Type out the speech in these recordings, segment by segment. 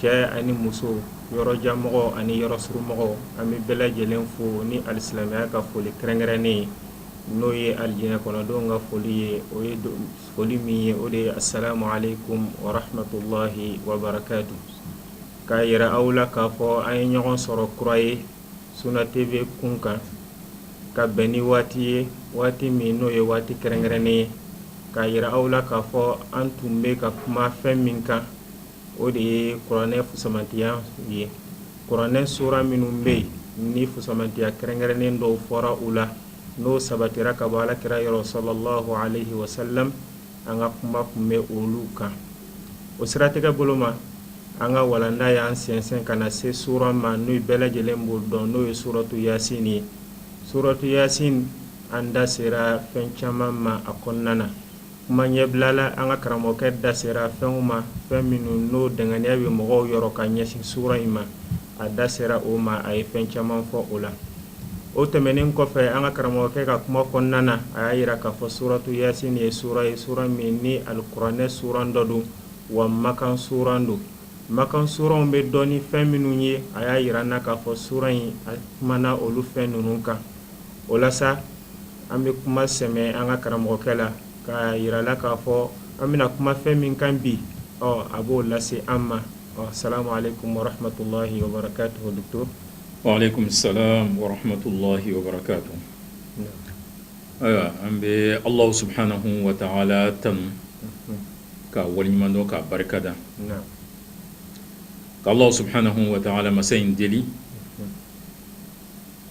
cɛ ani muso yɔrɔjanmɔgɔ ani yɔrɔ surumɔgɔ an bɛ bɛɛ lajɛlen fo ni alisilamiya ka foli kɛrɛnkɛrɛnnen ye n'o ye alijinɛ kɔnɔdenw ka foli ye o ye foli min ye o de ye asalamu alekum warahmatullahi wabarakatuhu k'a jira aw la k'a fɔ an ye ɲɔgɔn sɔrɔ kura ye Sunna TV kun kan ka bɛn ni waati ye waati min n'o ye waati kɛrɛnkɛrɛnnen ye k'a jira aw la k'a fɔ an tun bɛ ka kuma fɛn min kan o de ye kuranɛ fusamantiya ye kuranɛ sura minnu bɛ yen ni fusamantiya kɛrɛnkɛrɛnnen dɔw fɔra u la n'o sabatira ka bɔ alakira yɔrɔ salallahu aleyi wasalam an ka kuma tun bɛ olu kan o siratigɛ bolo ma an ka walanda y'an sɛnsɛn ka na se sura ma n'o bɛɛ lajɛlen b'o dɔn n'o ye suratu yasin ye suratu yasin an da sera fɛn caman ma a kɔnɔna na Kuma ɲɛbilala an ka karamɔgɔkɛ da sera fɛnw ma fɛn minnu n'o danganiya bɛ mɔgɔw yɔrɔ ka ɲɛsin sura in ma a da sera o ma a ye fɛn caman fɔ o la o tɛmɛnen kɔfɛ an ka karamɔgɔkɛ ka kuma kɔnɔna na a y'a jira k'a fɔ suratu yasin nin ye sura ye sura min ni alikuranɛ suran dɔ don wa makan suran don makan suranw bɛ dɔn ni fɛn minnu ye a y'a jira an na k'a fɔ sura in a kumana olu fɛn ninnu kan o la sa an bɛ kuma sɛmɛ an ka karamɔgɔkɛ la k'a jira a la k'a fɔ an bɛna kuma fɛn min kan bi ɔ a b'o lase an ma ɔ salamu alekum warahmatullahi wabarakatuhu wa alekum salam warahmatullahi wabarakatuhu ayiwa an bɛ ala subahanahu wataala tanu k'a waliɲumandɔn k'a barikada k'ala subahanahu wataala masa in deli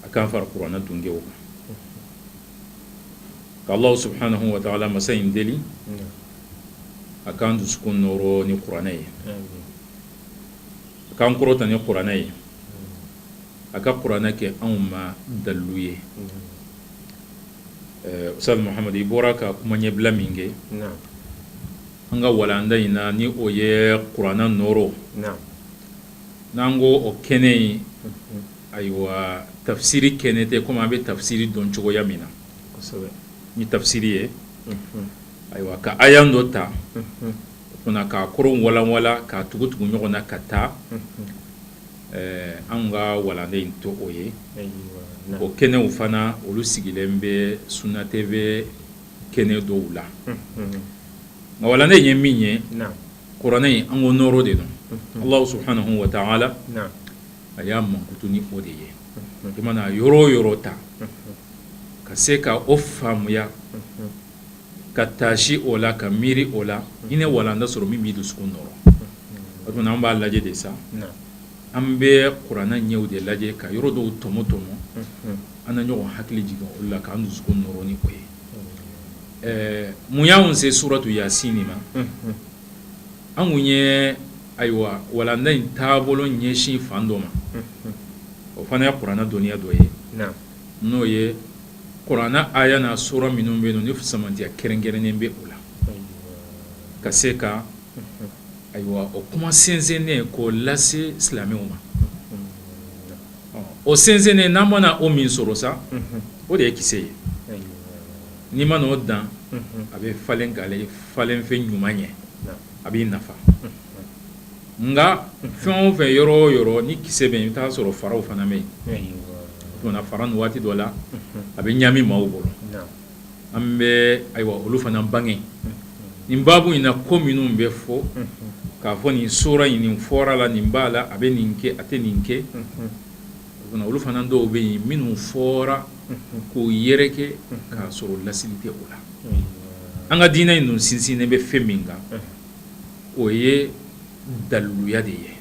a k'an fara kuranɛ dungew kan k'Alahu subahanahu wataala masa in deli a k'an dusukun nɔɔrɔ ni kuranɛ ye a k'an kɔrɔta ni kuranɛ ye a ka kuranɛ kɛ anw ma dalilu ye Ustaz Muhamadi i bɔra ka kuma ɲɛbila min kɛ an ka walanda in na ni o ye kuranɛ nɔɔrɔ n'an ko o kɛnɛ in Ayiwa tafsiri kɛnɛ tɛ kɔmi an bɛ tafsiri dɔn cogoya min na ni tafsiri ye ayiwa ka aya dɔ ta o k'a kɔrɔ walanwalan k'a tugu tugu ɲɔgɔn na ka taa an ka walanda in t'o ye o kɛnɛw fana olu sigilen bɛ Sunna TV kɛnɛ dɔw la nka walanda in ye min ye kuranɛ in an ko nɔɔrɔ de don Alahu subahanahu wataala a y'a mankutu ni o de ye i mana yɔrɔ o yɔrɔ ta ka se ka o faamuya ka taasi o la ka miiri o la i na walanda sɔrɔ min b'i dusukun nɔɔrɔ o tuma na an b'a lajɛ de sa an bɛ kuranɛ ɲɛw de lajɛ ka yɔrɔ dɔw tɔmɔ tɔmɔ an na ɲɔgɔn hakili jigin olu la k'an dusukun nɔɔrɔ ni o ye ɛɛ mun y'an se suratu yasin in ma an kun ye Ayiwa walanda in taabolo ɲɛsin fan dɔ ma o fana ye kuranɛ dɔnniya dɔ ye n'o ye kuranɛ aya n'a sura minnu bɛ yen ni fusamantiya kɛrɛnkɛrɛnnen bɛ u la ka se ka ayiwa o kuma sɛnsɛnnen k'o lase silamɛw ma o sɛnsɛnnen n'an mana o min sɔrɔ sa o de ye kisɛ ye n'i mana o dan a bɛ falen ka kɛ falenfɛn ɲuman ye a b'i nafa nka fɛn o fɛn yɔrɔ o yɔrɔ ni kisɛ bɛ yen i bɛ t'a sɔrɔ faraw fana bɛ yen o tuma na fara ninnu waati dɔ la a bɛ ɲami maaw bolo an bɛ ayiwa olu fana bange nin baabu in na ko minnu bɛ fɔ k'a fɔ nin sura in nin fɔra a la nin b'a la a bɛ nin kɛ a tɛ nin kɛ olu fana dɔw bɛ yen minnu fɔra k'o yɛrɛkɛ k'a sɔrɔ lasili tɛ o la an ka diinɛ in dun sinsinnen bɛ fɛn min kan o ye daliluya de ye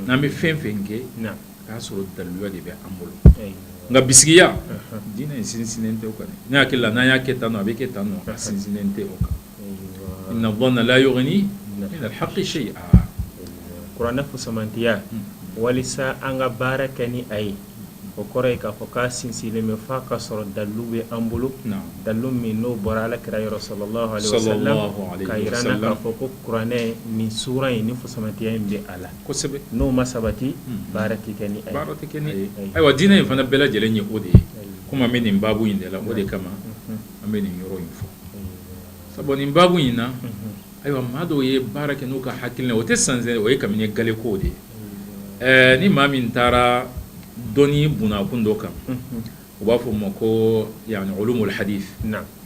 n'an bɛ fɛn fɛn kɛ k'a sɔrɔ daliluya de bɛ an bolo nka bisigiya diinɛ in sinsinnen tɛ o kan ne hakili la n'an y'a kɛ tan nɔ a bɛ kɛ tan nɔ a sinsinnen tɛ o kan inna dhanna la yughni min al-haqqi shay'a kuranɛ fusamantiya walisa an ka baara kɛ ni a ye o kɔrɔ ye k'a fɔ k'a sinsinlen bɛ f'a ka sɔrɔ dalilu bɛ an bolo dalilu min n'o bɔra alakira yɔrɔ sallallahu alaihi wasallam k'a yira an na k'a fɔ ko kuranɛ nin sura in ni fusamantiya in bɛ a la kosɛbɛ n'o ma sabati baara tɛ kɛ ni a ye baara tɛ kɛ ni a ye ayiwa diinɛ in fana bɛɛ lajɛlen ye o de ye komi an bɛ nin baabu in de la o de kama an bɛ nin yɔrɔ in fɔ sabu nin baabu in na ayiwa maa dɔw ye baara kɛ n'u ka hakilina o tɛ sanze o ye kabini gale ko de ye ni maa min taara dɔnni bɔnna kun dɔ kan u b'a fɔ o ma ko yani ulumul hadith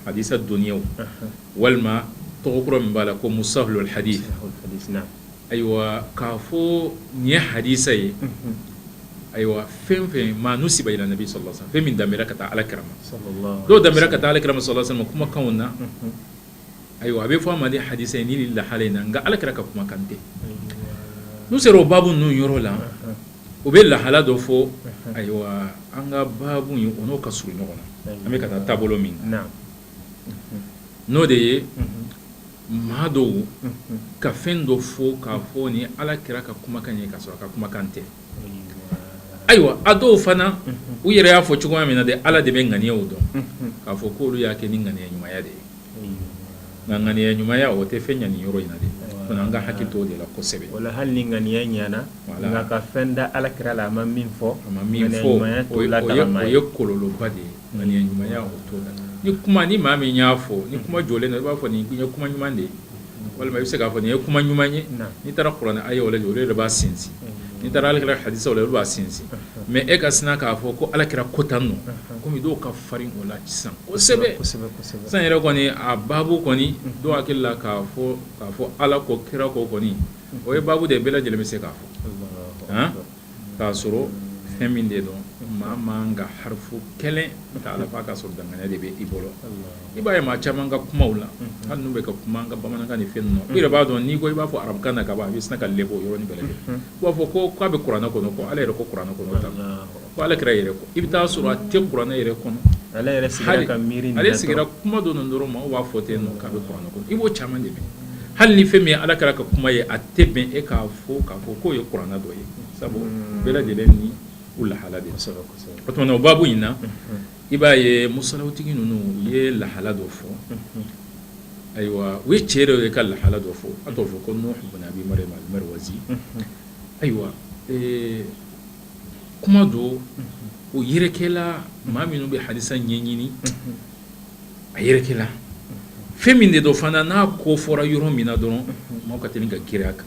hadisa dɔnniya walima tɔgɔ kura min b'a la ko mustalahul hadith ayiwa k'a fɔ nin ye hadisa ye ayiwa fɛn fɛn maa nusiba ila nabi sallallahu alaihi wasallam fɛn min danbɛra ka taa alakira ma dɔw danbɛra ka taa alakira ma sallallahu alaihi wasallam kumakanw na ayiwa a bɛ fɔ a ma de hadisa ye nin lahala in na nka alakira ka kumakan tɛ n'u sera o baabu ninnu yɔrɔ la u bɛ lahala dɔ fɔ ayiwa an ka baabu in o n'o ka surun ɲɔgɔn na an bɛ ka taa taabolo min na n'o de ye maa dɔw ka fɛn dɔ fɔ k'a fɔ nin ala kira ka kumakan ye k'a sɔrɔ a ka kumakan tɛ ayiwa a dɔw fana u yɛrɛ y'a fɔ cogoya min na de ala de bɛ ŋaniyaw dɔn k'a fɔ ko olu y'a kɛ ni ŋaniya ɲumanya de ye nka ŋaniya ɲumanya o tɛ fɛn ɲa nin yɔrɔ in na de fana an ka hakili to o de la kosɛbɛ wala hali ni ŋaniya ɲana ka fɛn da ala kira la a ma min fɔ a ma min fɔ o ye kɔlɔlɔba de ye Ŋaniya ɲumanya t'o la ni kuma ni maa min y'a fɔ ni kuma jɔlen na i b'a fɔ nin ye kuma ɲuman de ye walima i bɛ se k'a fɔ nin ye kuma ɲuman ye n'i taara kuranɛ ayaw lajɛ olu de b'a sinsin n'i taara ala kira hadisaw la olu b'a sinsin mɛ e ka sina k'a fɔ ko ala kira ko tan nɔ kɔmi dɔw ka farin o la sisan kosɛbɛ sisan yɛrɛ kɔni a baabu kɔni dɔw hakili la k'a fɔ ala ko kira ko kɔni o ye baabu de ye bɛɛ lajɛlen bɛ se k'a fɔ k'a sɔrɔ fɛn min de don maa man kan ka harifu kelen ta a la fo k'a sɔrɔ danganiya de bɛ i bolo i b'a ye maa caman ka kumaw la hali n'u bɛ ka kuma an ka bamanankan ni fɛn ninnu i yɛrɛ b'a dɔn n'i ko i b'a fɔ arabukan na ka ban a bɛ sina ka lebu yɔrɔ in bɛɛ lajɛlen u b'a fɔ ko k'a bɛ kuranɛ kɔnɔ ko ala yɛrɛ ko kuranɛ kɔnɔ tan ko ala kira yɛrɛ ko i bɛ taa a sɔrɔ a tɛ kuranɛ yɛrɛ kɔnɔ ale ale sigira kuma dɔ dɔrɔn ma b'a fɔ ten k'a bɛ kuranɛ kɔnɔ i b'o caman de hali ni fɛn min ye ala kira ka kuma ye a tɛ bɛn e k'a fɔ k'a fɔ k'o ye kuranɛ dɔ ye sabu hmm. bɛɛ lajɛlen ni u lahala de o tuma na o baabu in na hmm. i b'a ye musalawtigi ninnu u ye lahala dɔ fɔ hmm. ayiwa u ye cɛ dɔ ye ka lahala dɔ fɔ a tɔgɔ fɔ ko nuhu bun abi maryam al marwazi ayiwa kuma dɔ o yɛrɛkɛla maa minnu bɛ hadisa ɲɛɲini a yɛrɛkɛla fɛn min de don fana n'a ko fɔra yɔrɔ min na dɔrɔn maaw ka teli ka girin a kan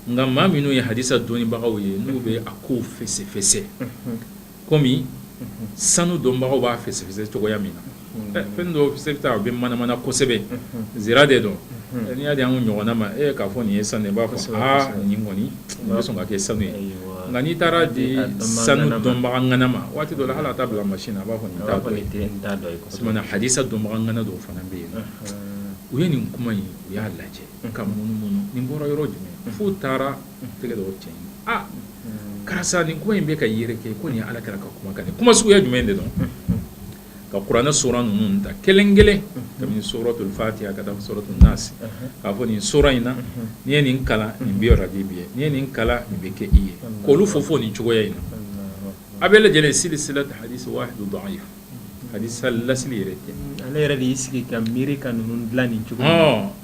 nka maa minnu ye hadisa dɔnnibagaw ye n'u bɛ a kow fɛsɛfɛsɛ kɔmi sanu dɔnbagaw b'a fɛsɛfɛsɛ cogoya min na fɛn dɔ se bɛ a bɛ manamana kosɛbɛ nsira de don n'i y'a di an ɲɔgɔnna ma e k'a fɔ nin ye sanu ye i b'a fɔ nin kɔni sɔn ka kɛ sanu ye nka n'i taara di sanu dɔnbaga ŋana ma waati dɔ la hali a t'a bila mansin na a b'a fɔ nin t'a dɔ ye hadisa dɔnbaga ŋana dɔw fana bɛ yen u ye nin kuma in u y'a lajɛ ka munumunu nin bɔra yɔrɔ jumɛn f'u taara tɛgɛ dɔw cɛ aa karisa nin kuma in bɛ ka yɛrɛkɛ ko nin ala kira ka kumakan ye kuma suguya jumɛn de don ka kuranɛ suran ninnu ta kelen kelen kabini suratul fatiha ka taa suratul nasi k'a fɔ nin suran in na n'i ye nin kalan nin bi bi n'i ye nin kalan nin bɛ kɛ i ye ko olu fɔ fɔ nin cogoya in na a bɛɛ lajɛlen seli seli ta hali don an ye hadisa lasili yɛrɛ tɛ ale yɛrɛ de y'i sigi ka miiri ka ninnu dilan nin cogo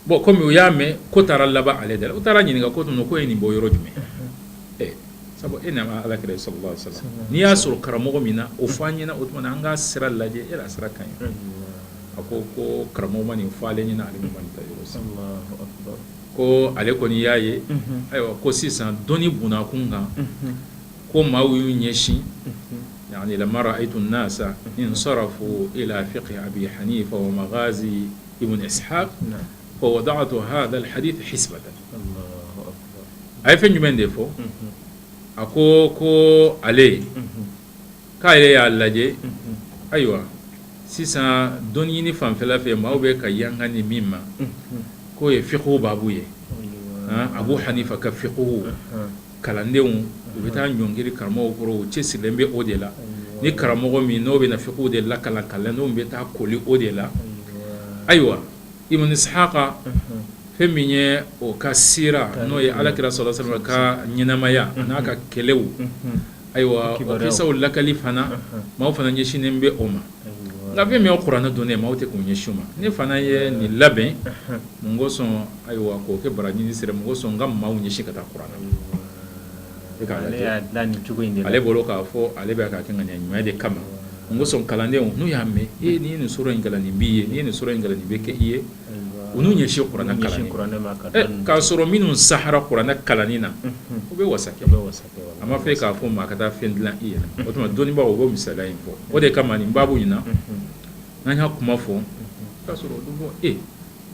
bon kɔmi u y'a mɛn ko taara laban ale de la u taara ɲininka ko k'o ye nin bɔ yɔrɔ jumɛn sabu e nana ala kira sallallahu alayhi wasallam n'i y'a sɔrɔ karamɔgɔ min na o fɔ an ɲɛna o tuma an ka sira lajɛ e sira ka ɲi a ko ko karamɔgɔ ma nin fɔ ale ɲɛna ale ma nin ta yɔrɔ si ko ale kɔni y'a ye ayiwa ko sisan dɔnni bkun kan ko maaw y'u ɲɛsin yaani lamma ra'aytu annasa insarafu ila fiqhi abi hanifa wa maghazi ibn ishaq fawada'tu hadha alhadith hisba a ye fɛn jumɛn de fɔ a ko ko ale k'ale y'a lajɛ ayiwa sisan dɔn ɲini fanfɛla fɛ maaw bɛ ka yanka ni min ma k'o ye fikihu baabu ye abu hanifa ka fikihu kalandenw u bɛ taa ɲɔngiri karamɔgɔ kɔrɔ u cɛsirilen bɛ o de la ni karamɔgɔ min n'o bɛ na fikihu de lakalan kalandenw bɛ taa kooli o de la ayiwa ibn ishaq Fɛn min ye o ka siira n'o ye ala kira sallallahu alayhi wasallam ka ɲɛnamaya n'a ka kɛlɛw ayiwa kisaw lakali fana maaw fana ɲɛsinnen bɛ o ma nka fɛn min ye kuranɛ dɔnni ye maaw tɛ k'u ɲɛsin o ma ne fana ye nin labɛn mun kosɔn ayiwa k'o kɛ baraji ɲini sira ye mun kosɔn ka maaw ɲɛsin ka taa kuranɛ ale bolo k'a fɔ ale bɛ k'a kɛ ŋaniya ɲuman de kama mun kosɔn kalandenw n'u y'a mɛn e n'i nin sura in kalan nin b'i ye n'i nin sura in kalan nin bɛ kɛ i ye U n'u ɲɛsin kuranɛ la k'a sɔrɔ minnu sahara kuranɛ kalan na o bɛ wasa kɛ a ma fɛ k'a fɔ maa ka taa fɛn dilan i yɛrɛ o tuma dɔnnibaw o bɛ misala in fɔ o de kama nin baabu in na n'an y'a kuma fɔ k'a sɔrɔ bɔ e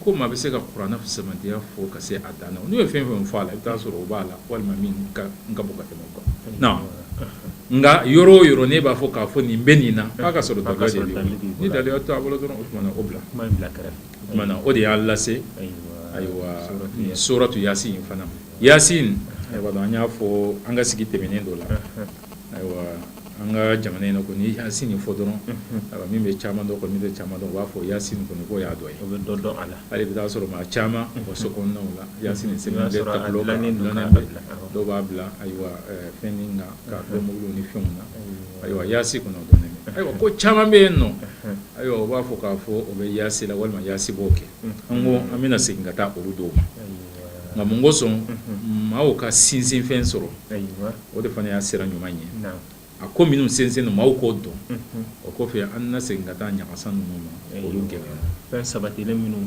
ko maa bɛ se ka kuranɛ fisamantiya fɔ ka se a dan na n'u ye fɛn fɛn fɔ a la i bɛ t'a sɔrɔ o b'a la walima min ka bon ka tɛmɛ nka yɔrɔ o yɔrɔ ne b'a fɔ k'a fɔ nin bɛ nin na ka sura tɔgɔ da ni dalilu t'a bolo dɔrɔn o tuma o bila bila o de y'a lase ayiwa suratu yasin fana yasin an y'a fɔ an ka sigi tɛmɛnen dɔ la ayiwa an ka jamana in ko ni yasin fɔ dɔrɔn a min bɛ caman dɔn ko min bɛ caman dɔn u b'a fɔ yasin kɔni ko y'a dɔn bɛ dɔn dɔn a la ale bɛ t'a sɔrɔ maa caman o so kɔnɔna la ya dɔw b'a bila ayiwa fɛn min na ka bɔ muru ni fɛnw na ayiwa yasin kɔnɔ ayiwa ko caman bɛ yen nɔ ayiwa u b'a fɔ k'a fɔ o bɛ yasin la walima yasin b'o kɛ an ko an bɛna segin ka taa olu dɔw ma nka mun kosɔn maaw ka sinsinfɛn sɔrɔ o de fana y'a sira ɲuman ye a ko minnu sinsinna maaw k'o dɔn o kɔfɛ an na segin ka taa ɲagasa ninnu ma olu gɛn fɛn sabatilen minnu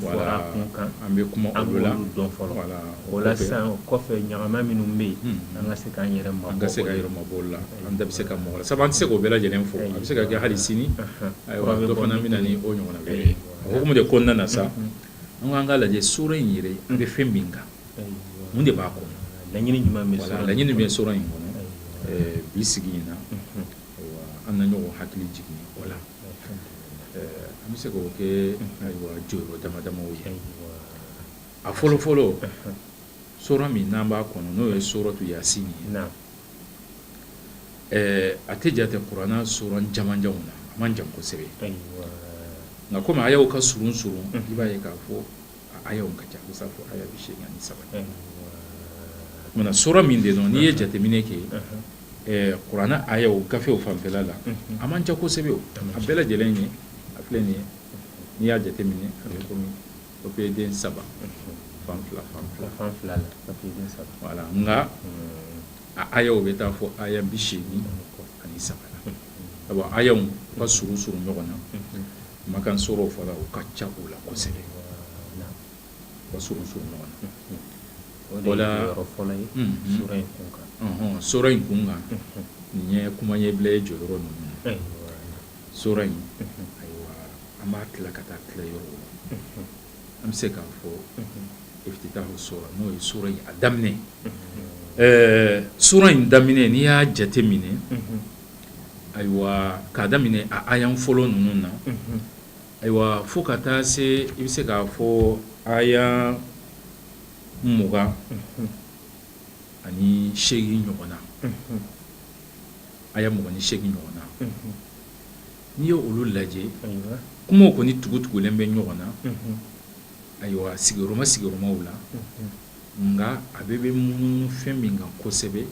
kan an bɛ kuma an b'olu dɔn fɔlɔ la o la sisan kɔfɛ ɲaman minnu bɛ yen an ka se k'an yɛrɛ an ka se k'an yɛrɛ mabɔ o la an bɛ se ka mabɔ o la sabu an tɛ se k'o bɛɛ lajɛlen fɔ a bɛ se ka kɛ hali sini ayiwa dɔ fana bɛ na n'o ɲɔgɔnna o de ko na sa an k'an ka lajɛ sura in yɛrɛ an bɛ fɛn min kan mun de b'a kɔnɔ laɲini jumɛn bɛ sura laɲini bɛ sura in kɔnɔ bi sigi in na an na ɲɔgɔn hakili jigin o la an bɛ se k'o kɛ ayiwa jɔyɔrɔ dama dama ye a fɔlɔ fɔlɔ sura min n'an b'a kɔnɔ n'o ye suratu yasin ye a tɛ jate kuranɛ sura jamanjanw na a man jan kosɛbɛ nka kɔmi ayaw ka surun surun i b'a ye k'a fɔ ayaw ka ca sa fo aya bi segin ni saba nka sura min de don n'i ye jateminɛ kɛ kuranɛ ayaw gafew fanfɛla la a man ca kosɛbɛ a bɛɛ lajɛlen ye a filɛ nin ye n'i y'a jateminɛ a bɛ kɔmi o bɛ den saba fan fila fan fila fan fila la nka ayaw bɛ taa fo aya bi segin ani saba ayaw ka surun surun ɲɔgɔn na Makan suraw fana u ka ca u la kosɛbɛ ka surun surun ɲɔgɔn na o la yɔrɔ fɔlɔ ye in kun kan sura in kun kan nin ye kuma ɲɛbila ye jɔyɔrɔ ninnu sura in ayiwa an b'a tila ka taa tila yɔrɔ la an bɛ se k'a fɔ iftitahu sura n'o ye sura in a daminɛ ɛɛ sura in daminɛ n'i y'a jateminɛ Ayiwa k'a daminɛ aya fɔlɔ ninnu na ayiwa fo ka taa se i bɛ se k'a fɔ aya mugan ani segin ɲɔgɔn na aya mugan ni segin ɲɔgɔn na n'i ye olu lajɛ kumaw kɔni tugutugulen bɛ ɲɔgɔn na ayiwa sigiyɔrɔma sigiyɔrɔmaw la nka a bɛɛ bɛ munumunu fɛn min kan kosɛbɛ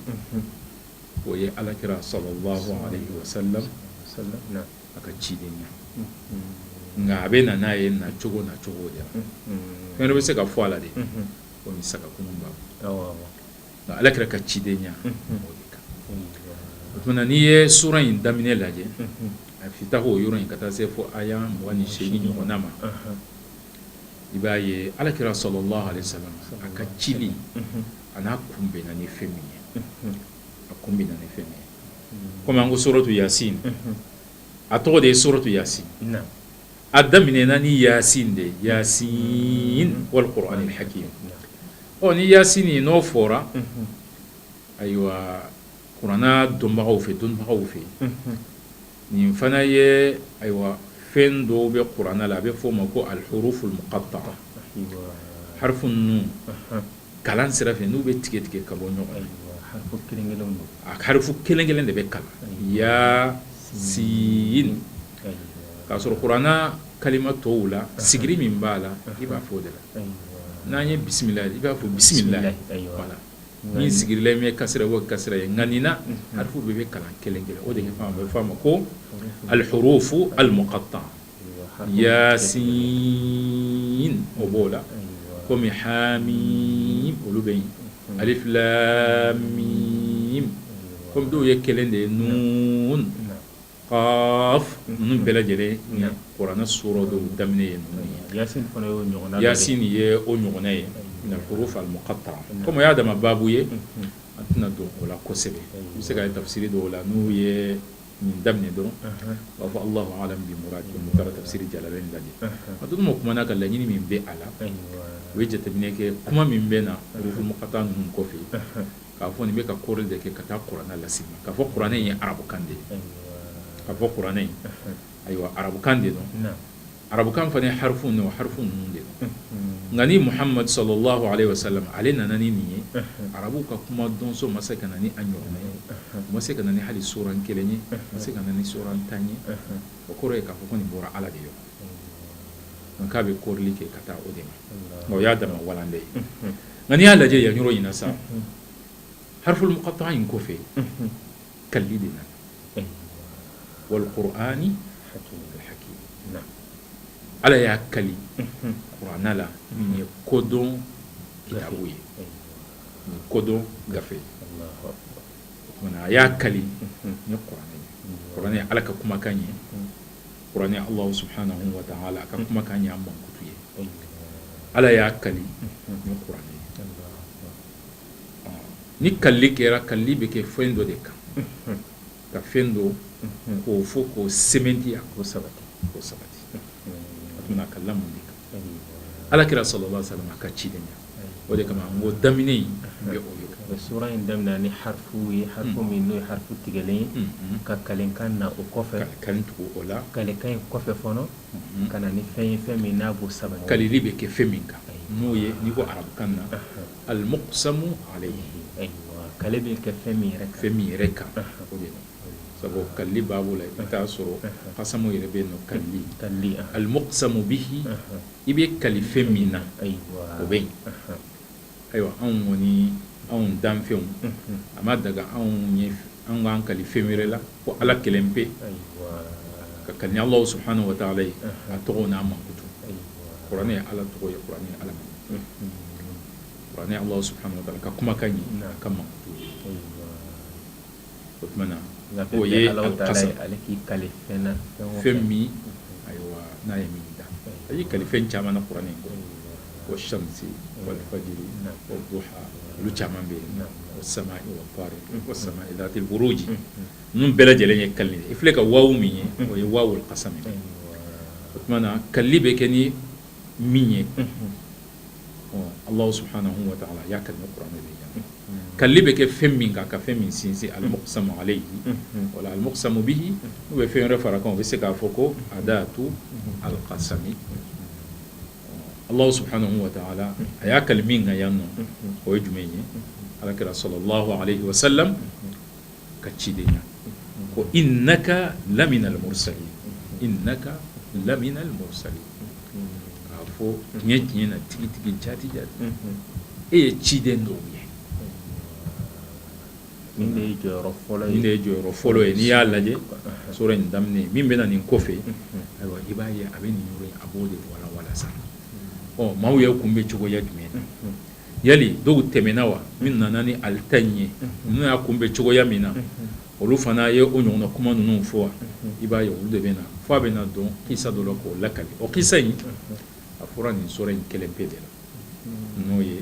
o ye ala kira salalahu alayihi wasalamu a ka cidenya nka a bɛ na n'a ye na cogo na cogo de fɛn bɛ se ka fɔ a la dɛ o ni saga kunba nka ala kira ka cidenya o n'i ye sura in daminɛ lajɛ a iftitahu yɔrɔ in ka taa se fo aya mugan ni segin ɲɔgɔn ma i b'a ye alaki sɔrɔ la sa a ka ci a n'a kun bɛ ni fɛn min ye a kun bɛ ni fɛn kɔmi an ko sɔrɔ to yasi a tɔgɔ de ye sɔrɔ to yasi a daminɛ na ni ya de ya walikɔrɔ ni hakɛ ye ɔ ni ya nin n'o fɔra ayiwa Kuranɛ dɔnbagaw fɛ dɔnbagaw fɛ nin fana ye ayiwa fɛn dɔw bɛ kuranɛ la a bɛ f'o ma ko al huruf al muqatta'a harifu ninnu kalan sira fɛ n'u bɛ tigɛ tigɛ ka bɔ ɲɔgɔn na harifu kelen kelen de bɛ kalan ya sin k'a sɔrɔ kuranɛ kalima tɔw la sigiri min b'a la i b'a fɔ o de la n'an ye bisimila i b'a fɔ bisimila Min sigirilen ye kasra o kasra ye nka nin na harifu bɛɛ bɛ kalan kelen kelen o de bɛ f'a ma ko al huruf al muqatta'a yasin o b'o la kɔmi hamim olu bɛ yen alif lam mim kɔmi dɔw ye kelen de ye nun ninnu bɛɛ lajɛlen kuranɛ suran dɔw daminɛ ye ninnu ye yasin ye o ɲɔgɔnna ye min al huruf al muqatta'a kɔmi y'a dama baabu ye an tɛna don o la kosɛbɛ a bɛ se ka ye tafsiri dɔw la n'u ye min daminɛ dɔrɔn u b'a fɔ allahu alam bi murad taara tafsiri jalalain lajɛ a dun mɔgɔw kumana ka laɲini min bɛ a la u ye jateminɛ kɛ kuma min bɛ na huruf muqatta'a ninnu kɔfɛ k'a fɔ nin bɛ ka kɔrili de kɛ ka taa kuranɛ lase ma k'a fɔ kuranɛ in ye arabukan de ye k'a fɔ kuranɛ in ayiwa arabukan de don arabukan fana ye harifu de o harifu ninnu de don nka ni muhamadu sallallahu alayhi wa sallam ale nana ni nin ye arabuw ka kuma dɔnso ma se ka na ni a ɲɔgɔnna ye u ma se ka na ni hali suran kelen ye ma se ka na ni suran tan ye o kɔrɔ ye k'a fɔ ko nin bɔra ala de yɔrɔ nka k'a bɛ kɔrili kɛ ka taa o de ma o y'a dama walan de ye nka n'i y'a lajɛ yan yɔrɔ in na sa harful muqatta'a in kɔfɛ kalili de nana wal qur'anil hakim ala y'a kali kuran la nin ye kodɔn kitabu ye nin kodɔn gafe a y'a kali kuran kuran ala ka kumakan ye kuranɛ Alahu subahanahu wataala a ka kumakan y'a mankutu ye, Ala y'a kali ni kuranɛ ye, ni kalili kɛra kalili bɛ kɛ fɛn dɔ de kan ka fɛn dɔ k'o fɔ k'o sɛmɛntiya k'o sabati k'o sabati o tuma na a kalila mun de kan ala kira sallallahu alayhi wa sallam a ka cidenya o de kama ko daminɛ in bɛ o ye suran in daminɛna ni harifu ye harifu min n'o ye harifu tigɛlen ka kalikan na o kɔfɛ ka tugu o la kalikan in kɔfɛ fɔlɔ ka na ni fɛn ye fɛn min n'a b'o sabati kalili bɛ kɛ fɛn min kan n'o ye n'i ko arabukan na al muqsamu alayhi kali bɛ kɛ fɛn min yɛrɛ fɛn min yɛrɛ kan o de sabu kali b'a bolo i t'a sɔrɔ qasamu yɛrɛ bɛ yen n'o kali almuqsamu bihi i bɛ kali fɛn min na o bɛ yen ayiwa anw kɔni anw danfɛnw a ma daga anw ye an k'an kali fɛn wɛrɛ la fo ala kelen pe ka kali ni ala subhanahu wa taala ye a tɔgɔ n'a mankutu kuran ye ala tɔgɔ ye kuran ye ala kuran ala subhanahu wa taala ka kumakan ye a ka mankutu o tuma na o ye alqasam ala k'i kali fɛn na fɛn min ayiwa n'a ye min da a y'i kali fɛn caman na kuran kɔnɔ ko wa shamsi wal fajri wa duha olu caman bɛ yen wa samai wa tariq wa samai zati alburuji nin bɛɛ lajɛlen ye kali de ye i filɛ ka waw min ye o ye waw alqasam ye o tuma na kali bɛ kɛ ni min ye Ala suhauna ala y'a kɛ kura de ye kali bɛ kɛ fɛn min kan ka fɛn min sinsin ali sa ale ye wala ali sa bi u bɛ fɛn wɛrɛ fara kan u bɛ se k'a fɔ ko a da to ala ka sa ala su ala a y'a kali min ka yan nɔ o ye jumɛn ye ala kɛra sɔrɔ sa ka cidenya ko innaka laminal mursalin innaka laminal mursalin k'a fɔ tiɲɛ tiɲɛ na tigitigi jaati jaati e ye ciden dɔ ye nin de ye jɔyɔrɔ fɔlɔ ye n'i y'a lajɛ sura in daminɛ min bɛ na nin kɔfɛ ayiwa i b'a ye a bɛ nin yɔrɔ a b'o de walawala sa ɔ maaw y'a kunbɛn cogoya jumɛn na yala dɔw tɛmɛna wa min nana ni ale ta in ye ninnu y'a kunbɛn cogoya min na olu fana ye o ɲɔgɔn kuma ninnu fɔ wa i b'a ye olu de bɛ na fo a bɛ na don kisa dɔ la k'o lakali o kisa in a fɔra nin sura in kelen pe de la n'o ye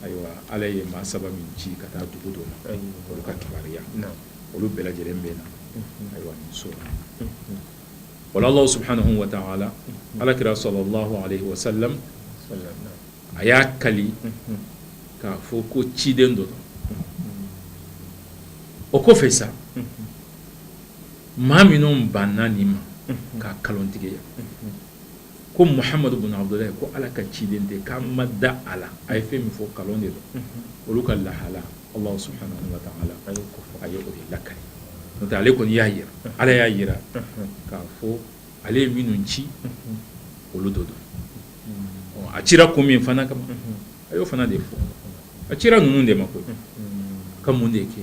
ayiwa ala ye maa saba min ci ka taa dugu dɔ ma olu ka kibaruya olu bɛɛ lajɛlen bɛ na ayiwa nin sura la ala subhanahu wa taala ala kira sallallahu alayhi wa sallam a y'a kali k'a fɔ ko ciden dɔ don o kɔfɛ sa maa minnu banna nin ma k'a nkalontigiya ko muhamadu bunu abdulahi ko ala ka ciden tɛ k'an ma da a la a ye fɛn min fɔ nkalon de don olu ka lahala ala subhanahu wa taala a ye o lakali ale kɔni y'a jira ala y'a jira k'a fɔ ale ye minnu ci olu dɔ don a cira ko min fana kama a y'o fana de fɔ a cira ninnu de ma ko ka mun de kɛ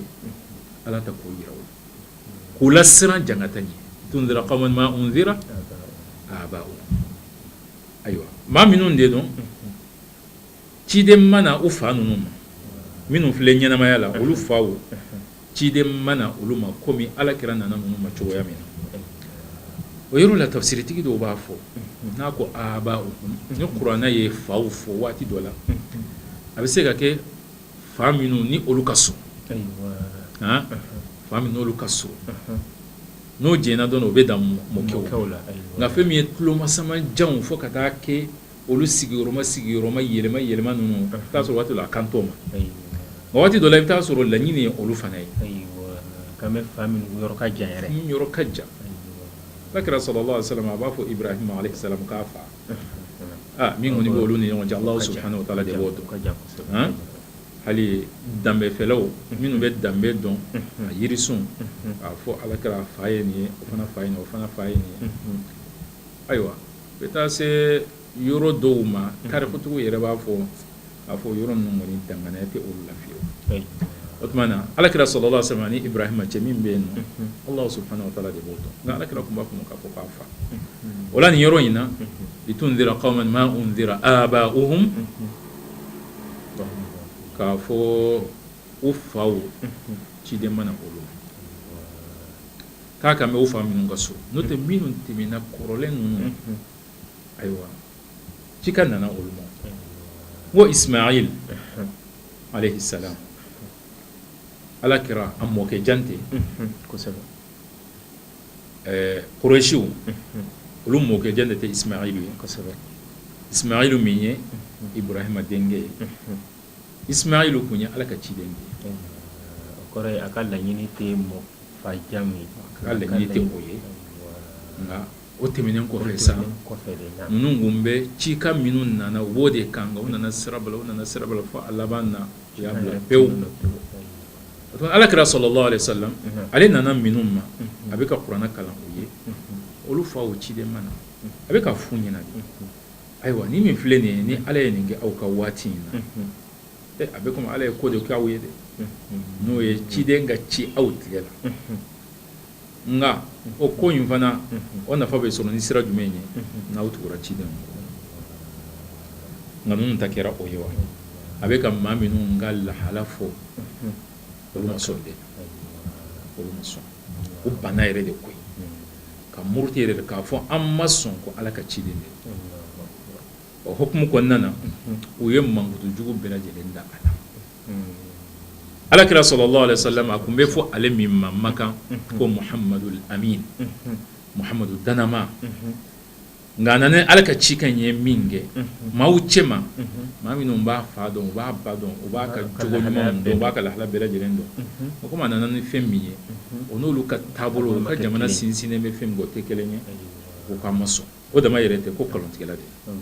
ala ta ko jira u la k'u lasiran jangata ɲɛ litunzira qawman ma unzira abau ayiwa maa minnu de don Ciden ma na u fa ninnu ma minnu filɛ ɲɛnamaya la olu faw ciden ma na olu ma komi alakira nana ninnu ma cogoya min na o yɔrɔ la tafsiritigi dɔw b'a fɔ n'a ko abaa'u ni kuranɛ ye faw fɔ waati dɔ la a bɛ se ka kɛ fa minnu ni olu ka surun fa minnu n'olu ka surun n'o j dɔn u bɛ dan mɔkɛw la nka fɛn min ye tulomasama janw fo ka taa kɛ olu sigiyɔrɔma sigiyɔrɔma yɛlɛma yɛlɛma ninnu i bɛ taa sɔrɔ waati dɔ la a kan t'o ma nka waati dɔ la i bɛ taa sɔrɔ laɲini ye olu fana ye kan bɛ fa min yɔrɔ ka jan yɛrɛ yɔrɔ ka jan alakira sallallahu alaihi wa salama a b'a fɔ Ibrahima alaihi salam k'a fa aa min kɔni bɛ olu ni ɲɔgɔn cɛ Alahu subahana wataala de b'o dɔn hali danbefɛlaw minnu bɛ danbe dɔn a jirisun k'a fɔ alakira fa ye nin ye o fana fa ye nin ye o fana fa ye nin ye ayiwa bɛ taa se yɔrɔ dɔw ma tarikutigiw yɛrɛ b'a fɔ k'a fɔ yɔrɔ ninnu kɔni danganɛya tɛ olu la fiyewu, o tuma na alakira sallallahu alaihi wa salama ni Ibrahima cɛ min bɛ yen nɔ Alahu subahana wataala de b'o dɔn nka alakira tun b'a fɔ k'a fɔ k'a fa o la nin yɔrɔ in na litundira qawman ma undira abaa'uhum k'a fɔ u faw ciden ma na olu k'a kan bɛ u fa minnu ka surun n'o tɛ minnu tɛmɛna kɔrɔlen ninnu ayiwa cikan nana olu ma ko Ismail alaihi salam alakira a mɔkɛ jan tɛ kosɛbɛ Kurayisiw olu mɔkɛ jan de tɛ Ismail ye kosɛbɛ Ismail min ye Ibrahima denkɛ ye Ismail tun ye ala ka ciden de ye o kɔrɔ ye a ka laɲini tɛ mɔgɔ fa jan ye a ka laɲini tɛ o ye nka o tɛmɛnen kɔfɛ sa ninnu tun bɛ cikan minnu nana u b'o de kan nka u nana sira bila fo a laban na u y'a bila pewu alakira sallallahu alaihi wa salama ale nana minnu ma a bɛ ka kuranɛ kalan u ye olu faw ciden ma na a bɛ k'a fɔ u ɲɛna ayiwa ni min filɛ nin ye ni ala ye nin kɛ aw ka waati in na a bɛ komi ala ye ko de kɛ aw ye dɛ n'o ye ciden ka ci aw tile la nka o ko in fana o nafa bɛ sɔrɔ ni sira jumɛn ye n'aw tugura ciden nka ninnu ta kɛra o ye wa a bɛ ka maa minnu ka lahala fɔ olu ma sɔn dɛ olu ma sɔn u banna yɛrɛ de koyi ka muruti yɛrɛ k'a fɔ an ma sɔn ko ala ka ciden dɛ o hukumu kɔnɔna na u ye mankutujugu bɛɛ lajɛlen da a la alakira sallallahu alaihi wa salama a tun bɛ fɔ ale min ma Makan ko Muhamadu lamin Muhamadu dannamaa Nka a nana ala ka cikan ye min kɛ maaw cɛ ma maa minnu b'a fa dɔn u b'a ba dɔn u b'a ka jogo ɲuman dɔn u b'a ka lahala bɛɛ lajɛlen dɔn o tuma a nana ni fɛn min ye o n'olu ka taabolo u ka jamana sinsinnen bɛ fɛn min kan o tɛ kelen ye o k'a ma sɔn o dama yɛrɛ tɛ ko nkalontigɛla de ye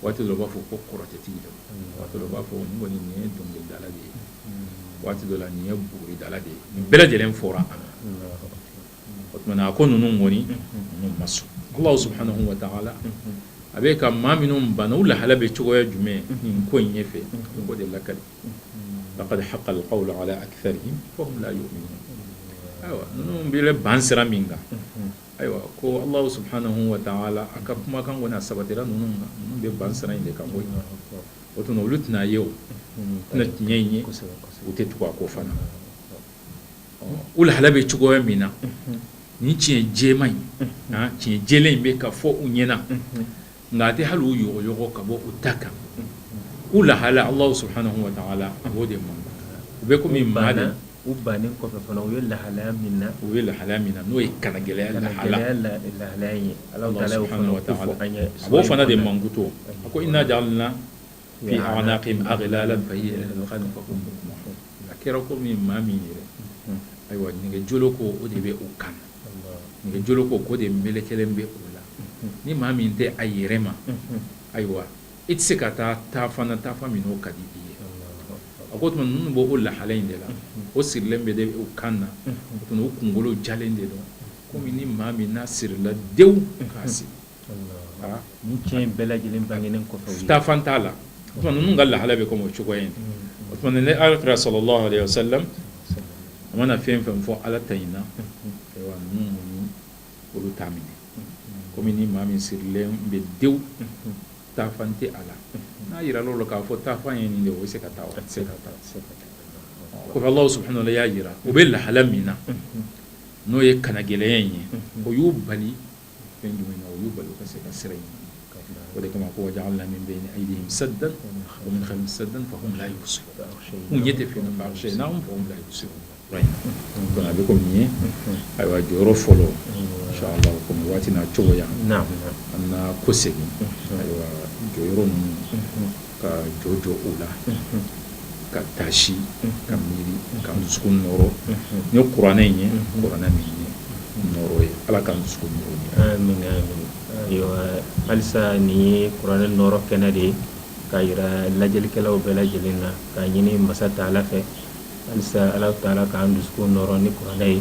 waati dɔ b'a fɔ ko kɔrɔtɛtigi don waati dɔ b'a fɔ kɔni nin ye dɔnkilidala de ye waati dɔ la nin ye buguridala de ye nin bɛɛ lajɛlen fɔra a o tuma a ko ninnu kɔni ninnu ma sɔn ala subhanahu wa ta'ala a bɛ ka maa minnu banna u lahala bɛ cogoya jumɛn nin ko in ɲɛ fɛ ko de lakali laqad haqqal qawlu ala aktharihim ayiwa ninnu bɛ ban sira min kan ayiwa ko ala subhanahu wa ta'ala a ka kumakan kɔni sabatira ninnu ninnu bɛ ban sira in de kan koyi o tuma olu tɛna a ye o tɛna tiɲɛ in ye u tɛ tugu a kɔ fana u lahala bɛ cogoya min na ni tiɲɛ jɛman in tiɲɛ jɛlen in bɛ ka fɔ u ɲɛna nka a tɛ hali u yɔgɔyɔgɔ ka bɔ u ta kan u lahala ala subhanahu wa ta'ala a b'o de ma u bɛ kɔmi maa na u ban u ye lahalaya min na u ye lahala min na n'o ye kannagɛlɛya la ala a b'o fana de mankutu a ko inna fi a'naqihim aglalan fa hiya ila al-adhqani fa hum muqmahun a kɛra komi maa min yɛrɛ ayiwa nɛgɛjɔlɔkɔ o de bɛ o kan nɛgɛjɔlɔkɔ o de melekelen bɛ o la ni maa min tɛ a yɛrɛ ma ayiwa i tɛ se ka taa taafan na taafan min o ka di i ye a ko tuma ninnu b'o o lahala in de la o sirilen bɛ de o kan na o tuma o kunkolo jalen de don komi ni maa min n'a sirila dewu k'a siri ni tiɲɛ in bɛɛ lajɛlen bangelen kɔfɛ taafan t'a la o tuma ninnu ka lahala bɛ kɔmi o cogoya in o tuma ni alakira sallallahu alayhi wasallam a mana fɛn fɛn fɔ ala ta in na ayiwa ninnu olu t'a minɛ kɔmi ni maa min sirilen bɛ dewu taafan tɛ a la n'a jirala o la k'a fɔ taafan ye nin de o bɛ se ka taa o tɛ se ka taa kɔmi ala subhanahu wa ta'ala y'a jira u bɛ lahala min na n'o ye kannagɛlɛya in ye o y'u bali fɛn jumɛn na o y'u bali ka se ka sira in o de kama ko wa ja'alna min bayni aydihim saddan wa min khalfihim saddan fahum la yubsirun n ɲɛ tɛ fa aghshaynahum fahum la yubsirun donc a bɛ kɔmi nin ye ayiwa jɔyɔrɔ fɔlɔ inchallah kɔmi waati n'a cogoya an na kɔsegin ayiwa jɔyɔrɔ ninnu ka jɔ jɔ o la ka taasi ka miiri k'an dusukun nɔɔrɔ ni kuranɛ in ye kuranɛ min ye nɔɔrɔ ye ala k'an dusukun nɔɔrɔ amiina amiina ayiwa halisa nin ye kuranɛ nɔɔrɔ kɛnɛ de ye k'a jira lajɛlikɛlaw bɛɛ lajɛlen na k'a ɲini masa ta'ala fɛ halisa ala ta'ala k'an dusukun nɔɔrɔ ni kuranɛ ye